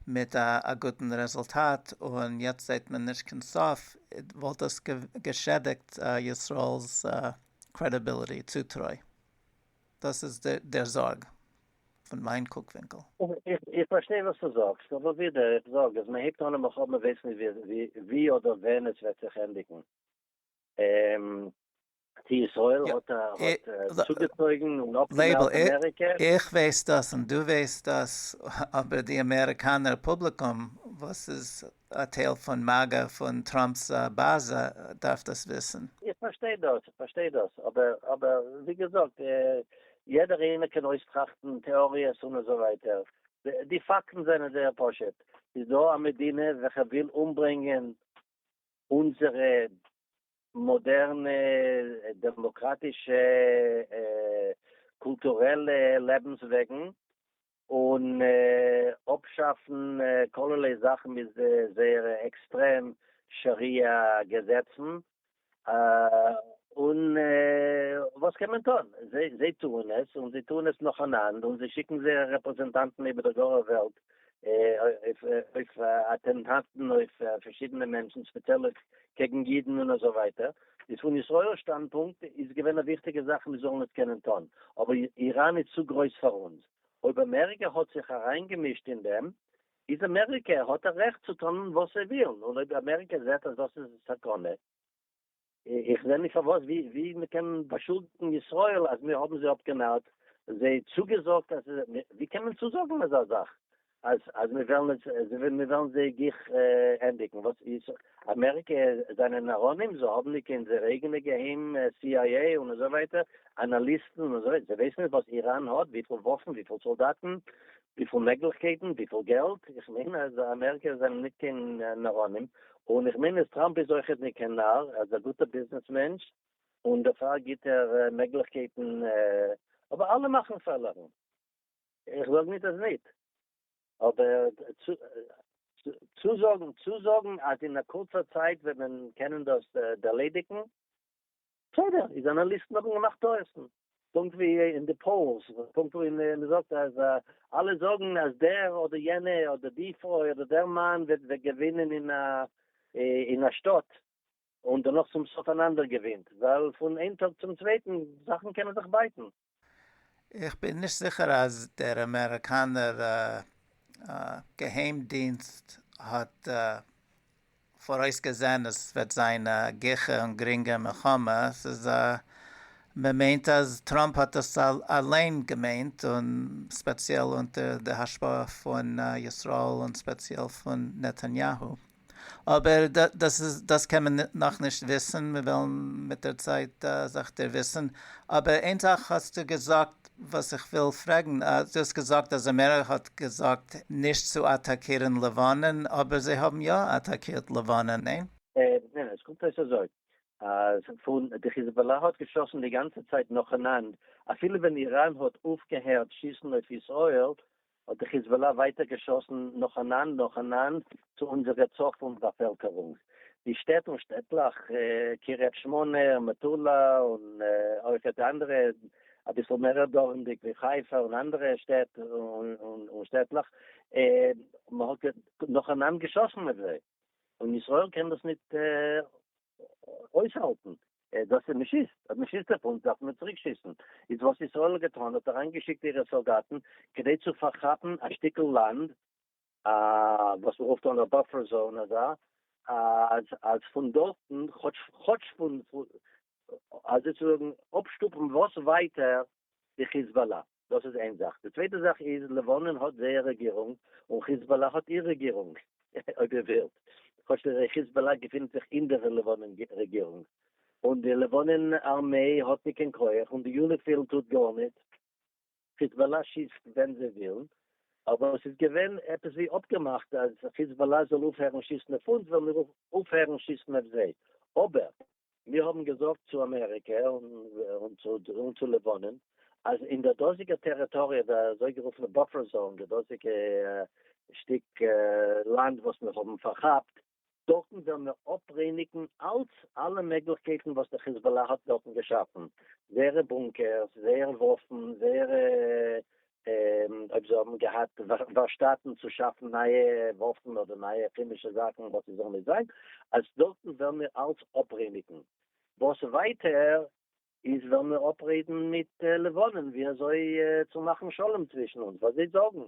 Speaker 1: מיט א גוטן רעזולטאט און יעצט זעט מען נישט קיין סוף, וואלט דאס געשעדיגט ישראל'ס קרעדיביליטי, צוטרוי. דאס איז דער זארג פון מיין קוק ווינקל. איך פארשטיי וואס דו זאגסט, אבער ווידער איך זאג אז מען הייבט אן א מלחמה מען ווייסט נישט ווי אדער ווען עס וועט
Speaker 2: זיך ענדיגן, צו ישראל האט צוגעצויגן און אפגעמעלדט אמעריקע. איך ווייס דאס
Speaker 1: און דו ווייסט דאס, אבער די אמעריקאנער פובליקום וואס איז א טייל פון מאגא פון טראמפ'ס באזע דארף דאס וויסן. איך פארשטיי דאס,
Speaker 2: איך פארשטיי דאס, אבער אבער ווי געזאגט יעדער איינער קען אויסטראכטן טעאריעס און אזוי ווייטער, די פאקטן זענען זייער פשוט, ס'איז דא א מדינה וועלכע וויל אומברענגען אונזערע מאדערנע דעמאקראטישע קולטורעלע לעבנס וועגן, און אפשאפן כללי זאכן מיט זייערע עקסטרעם שאריא געזעצן, און וואס קען מען טון? זיי טוען עס, און זיי טוען עס נאכאנאנד, און זיי שיקן זייערע רעפרעזענטאנטן איבער דער גארער וועלט אויף אטענטאטן אויף פארשידענע מענטשן ספעציעל קעגן אידן און אזוי ווייטער, איז פון ישראל שטאנדפונקט איז געווען א וויכטיגע זאך מיר זאלן עס קענען טון, אבער איראן איז צו גרויס פאר אונז, אויב אמעריקע האט זיך אריינגעמישט אין דעם, איז אמעריקע האט א רעכט צו טון וואס זיי ווילן, און אויב אמעריקע זעט אז דאס איז א סכנה, איך זע נישט פארוואס ווי מען קען באשולדיגן ישראל אז מיר האבן זיי אפגענארט, זיי צוגעזאגט אז, ווי קען מען צוזאגן אזא זאך אז אז מיר וועלן עס, מיר וועלן זיי גיך ענדיגן, וואס איז אמעריקע זענען נאראנים, זיי האבן נישט קיין זייער אייגענע געהיים סי איי עי און אזוי ווייטער אנאליסטן און אזוי, זיי ווייסן נישט וואס איראן האט, וויפיל וואפן, וויפיל סאלדאטן, וויפיל מעגליכקייטן? וויפיל געלט? איך מיין אז אמעריקע זענען נישט קיין נאראנים, און איך מיין אז טראמפ איז אויכעט נישט קיין נאר, ער איז א גוטער ביזנעס מענטש, און דערפאר גיבט ער מעגליכקייטן, אבער אלע מאכן פעלערן, איך זאג נישט אז נישט, אבער צוזאגן צוזאגן אז אין א קורצער צייט וועט מען קענען דאס ערלעדיגן, בסדר, די זשורנאליסטן האבן געמאכט טעות'ן, פונקט ווי אין די פאולס, פונקט ווי מען זאגט אז אלע זאגן אז דער אדער יענע אדער די פרוי אדער דער מאן וועט געווינען אין א שטאט, און דערנאך צום סוף אן אנדערער געווינט, ווייל פון איין טאג צום צווייטן זאכן קענען זיך בייטן. איך
Speaker 1: בין נישט זיכער אז דער אמעריקאנער געהיים דינסט האט פאראויס געזען אז ס'וועט זיין א גיכע און גרינגע מלחמה, ס'איז א מ'מיינט אז טראמפ האט עס אליין געמיינט און ספעציעל אונטער די השפעה פון ישראל און ספעציעל פון נתניהו. אבער דאס קען מען נאכנישט וויסן, מיר וועלן מיט דער צייט זיך דערוויסן. אבער איין זאך האסטו געזאגט וואס איך וויל פרעגן, דו האסט געזאגט אז אמעריקע האט געזאגט נישט צו אטאקירן לבנון, אבער זיי האבן יא אטאקירט לבנון, ניין? ניין, עס קומט
Speaker 2: אויס אזוי, אז פון די חיזבאלא האט געשאסן די גאנצע צייט נאכאנאנד, אפילו ווען איראן האט אויפגעהערט שיסן אויף ישראל, האט די חיזבאלא ווייטער געשאסן נאכאנאנד נאכאנאנד צו אונזערע צפון באפעלקערונג, די שטעט און שטעטלעך קריית שמונה און מטולה, און אויך די אנדערע אביסל מערער דרומדיג ווי חיפה און אנדערע שטעט און שטעטלעך, מען האט נאכאנאנד געשאסן אויף זיי, און ישראל קען דאס נישט אויסהאלטן דאס אז מ'שיסט, אז מ'שיסט אויף אונז דארפן מיר צוריק שיסן, איז וואס ישראל האט געטאן האט אריין געשיקט אירע סאלדאטן כדי צו פארכאפן א שטיקל לאנד וואס מ'רופט אן א באפער זאון אזא אז אז פון דארטן כאטש כאטש פון אזוי צו זאגן אפשטופן וואס ווייטער די חיזבאלא. דאס איז איין זאך. די צווייטע זאך איז לבנון האט זייער רעגירונג און חיזבאלא האט איר רעגירונג, אויב איר ווילט, כאטש די חיזבאלא געפינען זיך אין דער לבנון רעגירונג, און די לבנון ארמעי האט ניט קיין כח, און די יוניפיל טוט גארניט, חיזבאלא שיסט ווען זיי ווילן, אבער עס איז געווען עפעס ווי אפגעמאכט אז חיזבאלא זאל אויפהערן שיסן אויף אונז וועלן מיר אויפהערן שיסן אויף זיי, אבער מיר האבן געזאגט צו אמעריקע און צו לבנון אז אין די דאזיגע טעריטאריע, די אזויגערופענע באפער זאון, די דאזיגע שטיק לאנד וואס מיר האבן פארכאפט, דארטן וועלן מיר אפרייניגן אלץ אלע מעגליכקייטן וואס די חיזבאלא האט דארטן געשאפן, זייערע בונקערס, זייערע וואפן, זייערע אויב זיי האבן געהאט ווארשטאטן צו שאפן נייע וואפן אדער נייע כעמישע זאכן וואס עס זאל נישט זיין, אז דארטן וועלן מיר אלץ אפרעניגן. וואס ווייטער איז וועלן מיר אפרעדן מיט לבנון ווי אזוי צו מאכן שלום צווישן אונז, ווייל זיי זאגן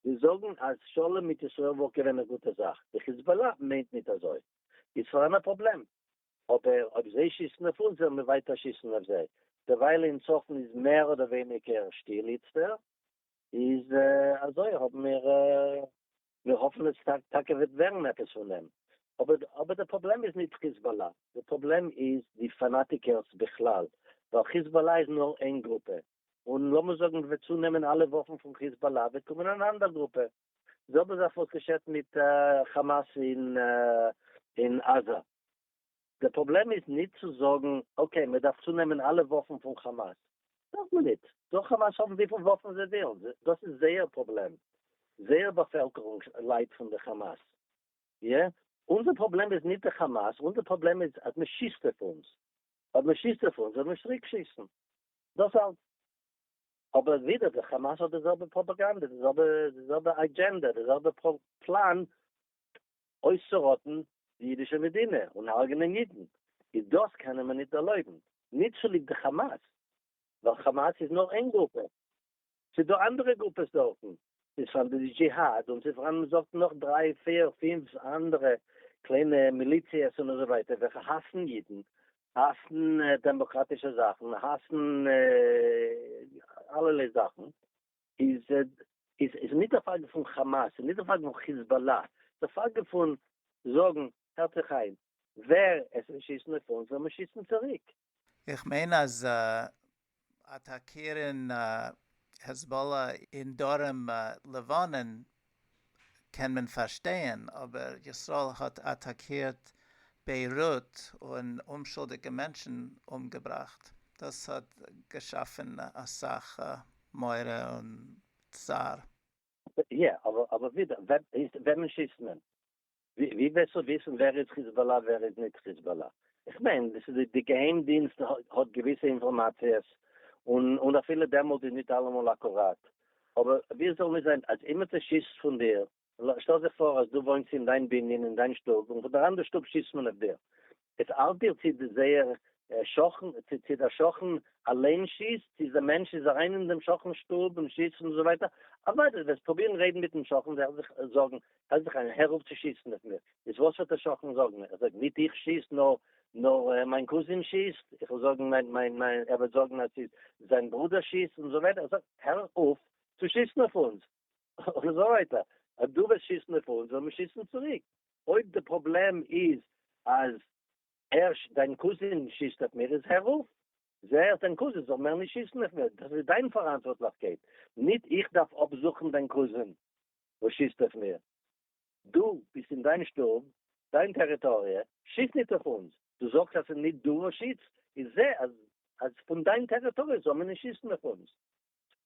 Speaker 2: זיי זאגן אז שלום מיט ישראל וואלט געווען א גוטע זאך. די חיזבאלא מיינט ניט אזוי. איז פארהאן א פראבלעם? אבער אויב זיי שיסן אויף אונז וועלן מיר ווייטער שיסן אויף זיי. דערווייל אין צפון איז מער אדער ווייניגער שטיל איצטער, איז אזוי האבן מיר מיר האפן עס טאקע וועט ווערן עפעס פון דעם. אבער אבער די פראבלעם איז ניט חיזבאלא, די פראבלעם איז די פאנאטיקערס בכלל, ווייל חיזבאלא איז נאר איין גרופע, און לאמיר זאגן מ'וועט צונעמען אלע וואפן פון חיזבאלא וועט קומען אן אנדער גרופע, זעלבע זאך וואס געשעט מיט כאמאס אין עזה, די פראבלעם איז נישט צו זאגן אקעי מען דארף צונעמען אלע וואפן פון כאמאס, דארף מען נישט, זאל כאמאס האבן וויפיל וואפן זיי ווילן, דאס איז זייער פראבלעם, זייער באפעלקערונג ליידט פון די כאמאס, איא? אונזער פראבלעם איז נישט די כאמאס, אונזער פראבלעם איז אז מען שיסט אויף אונז, אויב מען שיסט אויף אונז זאל מען צוריק שיסן, דאס אלץ. אבער ווידער די חאמאס האט די זעלבע פראפאגאנדע די זעלבע די זעלבע אדזשענדע די זעלבע פלאן אויסצוראטן די אידישע מדינה און הרג'נען אידן איז דאס קענען מיר ניט ערלויבן ניט צוליב די חאמאס ווייל חאמאס איז נאר איין גרופע ס'איז דא אנדערע גרופעס דארטן איז פאר די דזשיהאד און ס'איז פארהאן מ'זאגט נאך דריי פיר פינף אנדערע קליינע מיליציעס און אזוי ווייטער וועלכע האסן אידן, האסן דעמאקראטישע זאכן, האסן אלערליי זאכן, איז איז נישט די פראגע פון כאמאס און נישט די פראגע פון חיזבאלא, די פראגע פון זאגן הערט זיך איין, ווער עס וועט שיסן אויף אונז וועל מיר שיסן צוריק. איך מיין
Speaker 1: אז אטאקירן העזבאלא אין דרום לבנון קען מען פארשטייען, אבער ישראל האט אטאקירט ביירוט און אומשולדיגע מענטשן אומגעבראכט, דאס האט געשאפן אסאך מורא און צער. יא, אבער ווידער, וועמען שיסט
Speaker 2: מען? ווי וועסטו וויסן ווער איז חיזבאלא ווער איז ניט חיזבאלא? איך מיין דאס איז די געהיים דינסט האט געוויסע אינפארמאציעס און און אפילו דעמאלט איז ניט אלעמאל אקוראט אבער ווי זאל ניט זיין אז אימער צו שיסט פון דיר שטעל זיך פאר אז דו וואוינסט אין דיין בנין אין דיין שטוב און פון דער אנדער שטוב שיסט מען אויף דיר עס ארט דיר צי די זייער שכן צי דער שכן אליין שיסט צי די מענטש איז אריין אין דעם שכן'ס שטוב און שיסט און אזוי ווייטער אוודאי די וועסט פרובירן רעדן מיטן שכן זאל זיך זארגן זאל זיך אריין הער אויף צי שיסן אויף מיר איז וואס וועט דער שכן זאגן ער זאגט ניט איך שיס נאר נאר מיין קוזין שיסט איך וועל זאגן מיין מיין מיין ער וועט זאגן אז ס'איז זיין ברודער שיסט און אזוי ווייטער ער זאגט הער אויף צו שיסן אויף אונז און אזוי ווייטער, אז דו וועסט שיסן אויף אונז וועל מיר שיסן צוריק, אויב די פראבלעם איז אז הערש דיין קוזין שיסט אויף מיר איז הער אויף, זעה אז דיין קוזין זאל מער נישט שיסן אויף מיר, דאס איז דיין פאראנטווארטליכקייט, ניט איך דארף אפזוכן דיין קוזין וואס שיסט אויף מיר, דו ביסט אין דיין שטוב, דיין טעריטאריע, שיס ניט אויף אונז, דו זאגסט אז ס'איז ניט דו וואס שיסט, איז זעה אז פון דיין טעריטאריע זאל מען נישט שיסן אויף אונז,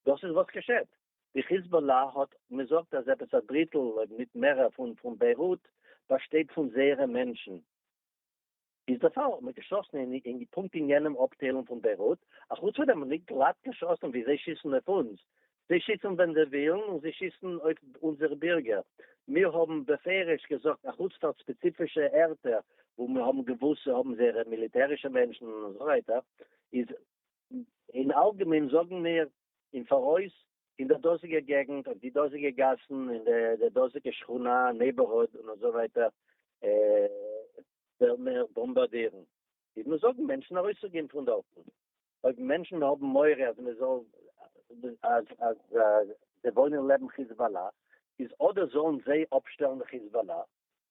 Speaker 2: דאס איז וואס געשעט. די חיזבאלא האט מזאגט אז עפעס א דריטל אויב ניט מערער פון פון ביירוט באשטייט פון זייערע מענטשן. איז די פאל האט מען געשאסן אין אין פונקט אין יענעם אפטיילונג פון ביירוט, אחוץ פון דעם האט מען ניט גלאט געשאסן ווי זיי שיסן אויף אונז. זיי שיסן ווען זיי ווילן און זיי שיסן אויף אונזערע בירגער. מיר האבן בפירוש געזאגט אחוץ פאר ספעציפישע ערטער וואו מיר האבן געוואוסט זיי האבן זייערע מיליטערישע מענטשן און אזוי ווייטער איז אין אלגעמיין זאגן מיר אין פאראויס אין דער דאזיגער געגנט, אויף די דאזיגע גאסן, אין דער דאזיגער שכונה, נעיבערהוד, און אזוי ווייטער, וועלן מיר באמבארדירן. איז מען זאגן מענטשן ארויסצוגיין פון דארטן. אויב מענטשן האבן מורא אז מען זאל, אז, אז זיי וואוינען לעבן חיזבאלא, איז אדער זאלן זיי אפשטעלן די חיזבאלא,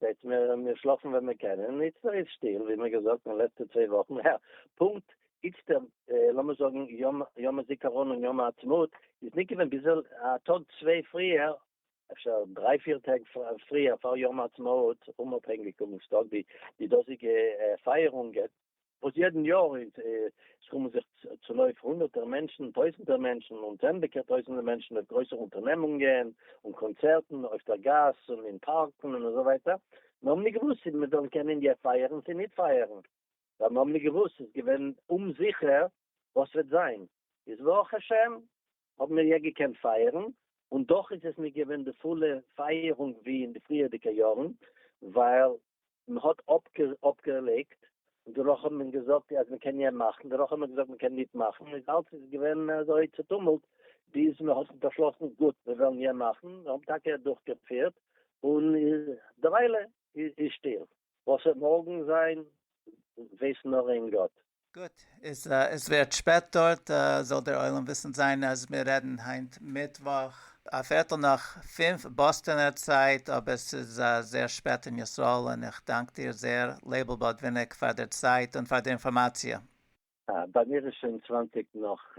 Speaker 2: זעט מען מיר שלאפן ווען מיר קענען, און איצטער איז שטיל, ווי מיר געזאגט אין לעצטע צוויי וואכן, יא, פונקט איצטער, לאמיר זאגן יום יום הזיכרון און יום העצמאות, איז ניט געווען ביז א טאג צוויי פריער, אפשר דריי פיר טעג פריער פאר יום העצמאות, אומאפהענגיק און מושטג ווי די דאזיגע פייערונגען, וואס יעדן יאר איז עס קומען זיך צונויף הונדערטער מענטשן, טויזנטער מענטשן און צענדליגער טויזנטער מענטשן אויף גרויסע אונטערנעמונגען און קאנצערטן אויף דער גאס און אין פארקן און אזוי ווייטער, מיר האבן ניט געוואוסט צי מיר וועלן קענען אינדיע פייערן צי ניט פייערן, ווייל מיר האבן ניט געוואוסט, עס איז געווען אומזיכער וואס וועט זיין, איז ברוך השם האבן מיר יא געקענט פייערן, און דאך איז עס נישט געווען די פולע פייערונג ווי אין די פריערדיגע יארן, ווייל מען האט אפגעלייגט, און דערנאך האט מען געזאגט אז מען קען יא מאכן, דערנאך האט מען געזאגט מען קען ניט מאכן, איז אלץ איז געווען אזוי צוטומלט, ביז מען האט באשלאסן גוט מיר וועלן יא מאכן, מיר האבן טאקע דורכגעפירט, און דערוויילע איז שטיל. וואס וועט מארגן זיין ווייסט נאר איין גאט. גוט, איז
Speaker 1: עס ווערט שפעט דארט, זאל דער עולם וויסן זיין אז מיר רעדן היינט מיטוואך א פערטל נאך פֿינף באסטאנער צייט, אבער ס'איז זייער שפעט אין ישראל, און איך דאנק דיר זייער לייבל באדוויניק פאר דער צייט און פאר דער אינפארמאציע. ביי
Speaker 2: מיר איז שוין צוואַנציק נאך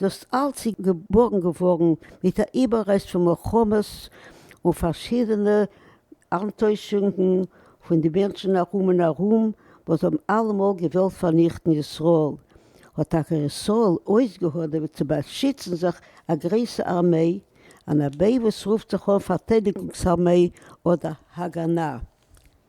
Speaker 7: דאס אלץ איז געבארגן געווארן מיט א איבעררעסט פון מלחמות און פארשידענע אנטוישונגן פון די מענטשן ארום און ארום וואס האבן אלעמאל געוואלט פארניכטן ישראל, האט טאקע ישראל אויסגעהאדעוועט צו באשיצן זיך א גרויסע ארמיי, אן ארמיי וואס רופט זיך אן פארטיידיגונגס ארמיי אדער הגנה.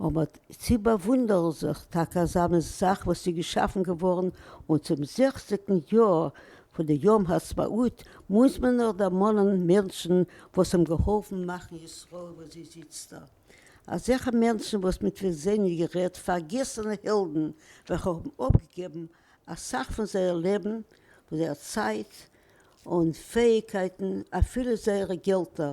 Speaker 7: אבער צי באוואונדערן זיך טאקע אזא מין זאך וואס איז געשאפן געווארן און צום זעכציגן יאר פון די יום העצמאות מוז מען נאך דערמאנען מענטשן וואס האבן געהאלפן מאכן ישראל וואס זי זיצט דא, אזעלכע מענטשן וואס מיט וועם זענען גערעדט פארגעסענע העלדן וועלכע האבן אפגעגעבן אסאך פון זייער לעבן, פון זייער צייט און פעאיגקייטן אפילו זייערע געלטער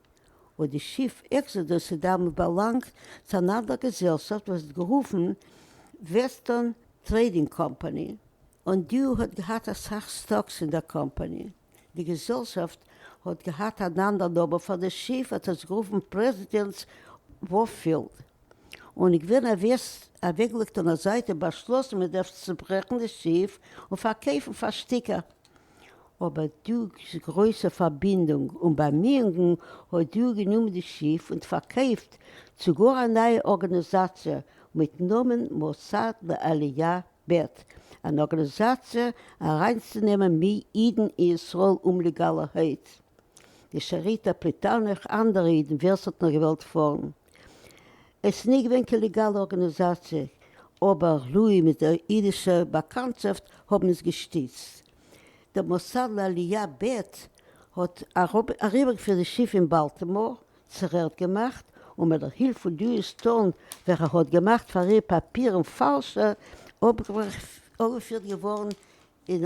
Speaker 7: און די שיף עקסאדוס איז דעמאלט באלאנגט צו אן אנדער געזעלשאפט וואס האט גערופן וועסטערן טרעידינג קאמפאני, און די האט געהאט אסאך סטאקס אין דער קאמפאני. די געזעלשאפט האט געהאט אן אנדער נאמען פאר די שיף, האט ער עס גערופן פרעזידענטס ווארף פילד, און איז געווען אוועקגעלייגט און א זייט און באשלאסן מען דארף צוברעכן די שיף און פארקויפן פאר שטיקער. אבער דורכ'ס גרויסע פארבינדונג און באמיאונגן האט דו גענומען די שיף און פארקויפט צו גאר א נייע ארגאניזאציע מיט נאמען מוסד לעלייה ב', אן ארגאניזאציע אריינצונעמען מי אידן אין ישראל אומלעגאלערהייט, די שאריטא פליטה נאך אנדערע אידן ווער ס'האט נאר געוואלט פארן. עס איז נישט געווען קיין ליגאלע ארגאניזאציע, אבער לוי' מיט די אידישע באקאנטשאפט האבן עס געשטיצט. דער מוסד לעלייה ב' האט אריבערגעפירט די שיף אין באלטימאר, צורעכט געמאכט, און מיט דער הילף פון דעוויד סטאון וועלכע האט געמאכט פאר איר פאפירן פאלשע, אפגעפירט געווארן אין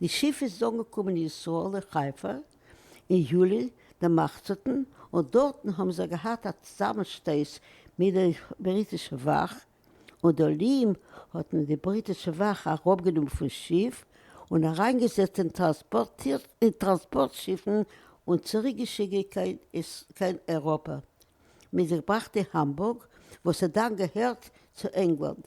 Speaker 7: די שיף איז אנגעקומען אין ישראל אין חיפה אין יולי דערמאכצעטן און דארטן האבן זיי געהאט א צוזאמענשטויס מיט די בריטישע וואך און די עולים האט מען די בריטישע וואך אראפגענומען פון שיף און אריינגעזעצט אין טראנספארט שיפן און צוריק געשיקט קיין אייראפע מיט זיך געבראכט די האמבורג וואס האט דאן געהערט צו ענגלאנד.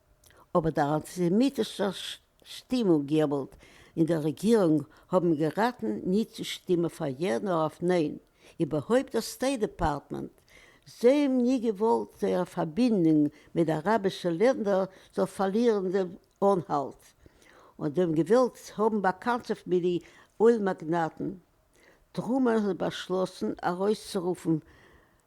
Speaker 7: אבער דער אנטיסעמיטישער שטימונג געוואלד אין דער רעגירונג האבן געראטן ניט צו שטימען פאר יא נאר אויף ניין, איבערהויפט דער סטעיט דעפארטמענט. זיי האבן ניט געוואלט זייער פארבינדונג מיט די אראבישע לענדער זאל פארלירן דעם אנהאלט, און זיי האבן געוואלט האבן באקאנטשאפט מיט די אויל מאגנאטן. טרומען האט באשלאסן ארויסצורופן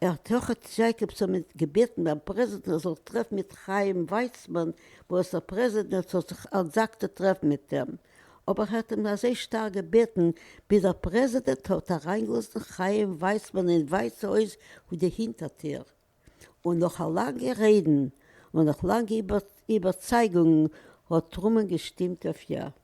Speaker 7: ער האט אויך דזשעיקאבסאן געבעטן ביים פרעזידענט ער זאל טרעפן מיט חיים ווייצמאן וואס דער פרעזידענט זאל זיך אנטזאגטו טרעפן מיט אים אבער ער האט אים אזוי שטארק געבעטן ביז דער פרעזידענט האט אריינגעלאזן חיים ווייצמאן אין ווייסע הויז פון די הינטער טיר און נאך א לאנגע רעדן און נאך לאנגע איבערצייגונגן האט טרומען געשטימט אויף יא.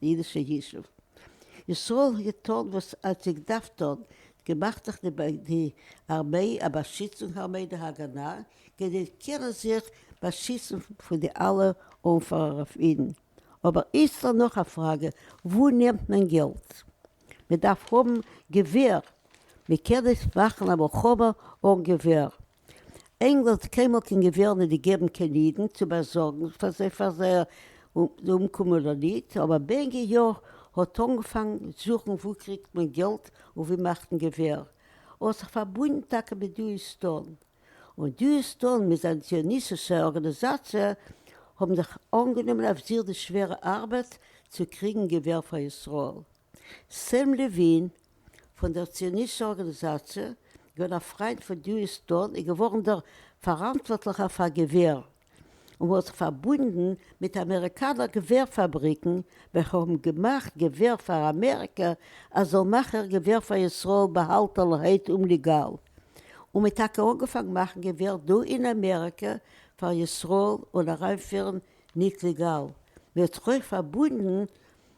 Speaker 7: די אידישע ישוב ישראל האט געטאן וואס ס'האט זיך געדארפט טון, געמאכט זיך די די ארמעי א באשיצונג ארמעי די הגנה כדי קענען זיך באשיצן פון די אלע אנפארער אויף אידן, אבער איצטער נאך א פראגע וואו נעמט מען געלט? מ'דארף האבן געווער, מ'קען נישט מאכן א מלחמה אן געווער. ענגלאנד האט קיינמאל קיין געווער ניט געגעבן קיין אידן צו באזארגן פאר זיי פאר זייער אומקום אדער ניט, אבער בענג י האט אנגעפאנגן זוכן וואו קריגט מען געלט און ווי מאכט מען געווער, האט זיך פארבונדן טאקע מיט דו איז דאן, און דו איז דאן מיט זיין ציוניס'ישע ארגאניזאציע האבן זיך אנגענומען אויף זיך די שווערע ארבעט צו קריגן געווער פאר ישראל. סעם לעווין, פון דער ציוניסטשע ארגאניזאציע, געווען א פריינט פון דיוסטאן און געווארן דער פאראנטווארטליכער פאר געווער, און האט זיך פארבונדן מיט אמעריקאנער געווער פאבריקן וועלכע האבן געמאכט געווער פאר אמעריקע אז זאל מאכן געווער פאר ישראל באהאלטענערהייט אומליגאל, און מען האט טאקע אנגעפאנגן מאכן געווער דא אין אמעריקע פאר ישראל און אריינפירן ניט ליגאל, מען האט זיך אויך פארבונדן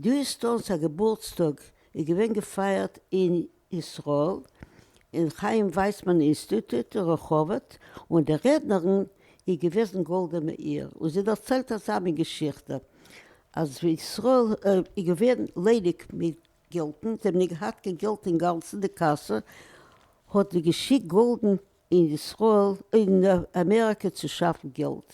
Speaker 7: דאס טאלס א געבורטס טאג איז געווען געפייערט אין ישראל אין חיים ווייסמאן אינסטיטוט אין רחובות און די רעדנערין איז געוועזן גאלדע מאיר און זי דערציילט אזא מין געשיכטע אז ווען ישראל איז געווען ליידיג מיט געלטן זיי האבן נישט געהאט קיין געלט אינגאנצן די קאסע האט זי געשיקט גאלדן אין ישראל אין אמעריקע צו שאפן געלט,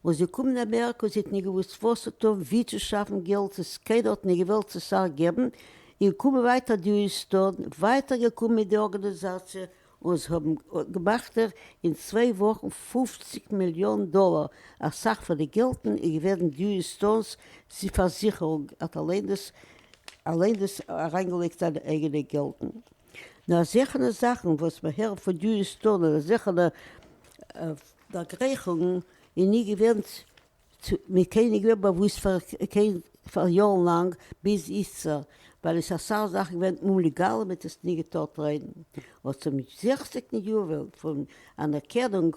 Speaker 7: און זיי קומען אמעריקע און זי האט נישט געוואוסט וואס צו טון ווי צו שאפן געלט עס קיינער האט נישט געוועלט צו סאך געבן, און קומען ווייטער די הוסטאן ווייטער געקומען מיט די ארגאניזאציע און זיי האבן געמאכט אין צוויי וואכן פֿופֿציק מיליאן דאלער אסאך פון די געלטן איז געווען די הוסטאן'ס פארזיכערונג האט אליין דאס אליין דאס אריינגעלייגט זיינע אייגענע געלטן. נאר זעלכנע זאכן וואס מען הערט פון יוז טאר נאר זעלכנע דערגרייכונגן איז נישט געווען צו מיט קיינעם געווען באוואוסט פאר קיין פאר יארן לאנג ביז איצטער ווייל עס איז אסאך זאכן געווען אומליגאל און מען האט עס נישט געטארט רעדן אבער צום זעכציגטן יובל פון אנערקענונג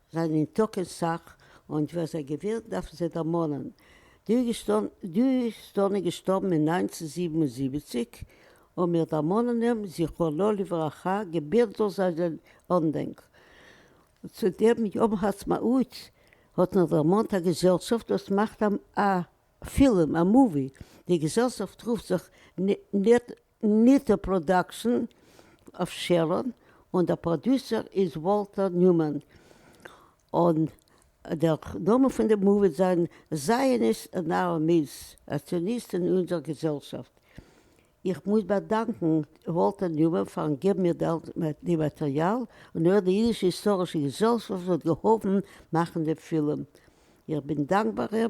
Speaker 7: זענען טאקע סאך, און ווער זיי געווער דארפן זיי דערמאנען. דו שטאנע געשטארבן אין נײַנצן זיבן און זיבעציק, און מיר דערמאנען אים זכרונו לברכה געבענטש זאל זיין אנדענק. צו דעם יום העצמאות האט מען דערמאנט א געזעלשאפט וואס מאכט א פילם, א מאווי, די געזעלשאפט רופט זיך ניטא פראדאקשען אויף שערון, און דער פראדוסער איז וואלטער ניומאן, און דער נאמען פון די מאווי וועט זיין זייעניסט און אר מיז אציוניסט אין אונזער געזעלשאפט. איך מוז באדאנקען וואלטער ניומאן פארן געבן מיר די מאטריאל, און אויך די אידישע היסטארישע געזעלשאפט וואס האט געהאלפן מאכן דעם פילם. איך בין דאנקבאר אים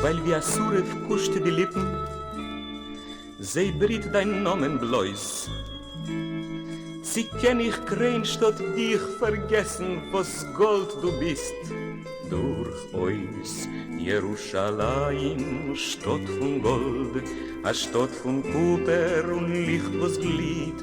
Speaker 8: ווייל ווי א שרף קושט די ליפן זיי בריט דיין נאמען בלויז צי קען איך קרען שטאט דיך פארגעסן וואס גאלד דו ביסט דורכאויס ירושלים שטאט פון גאלד א שטאט פון קופער און ליכט וואס גליט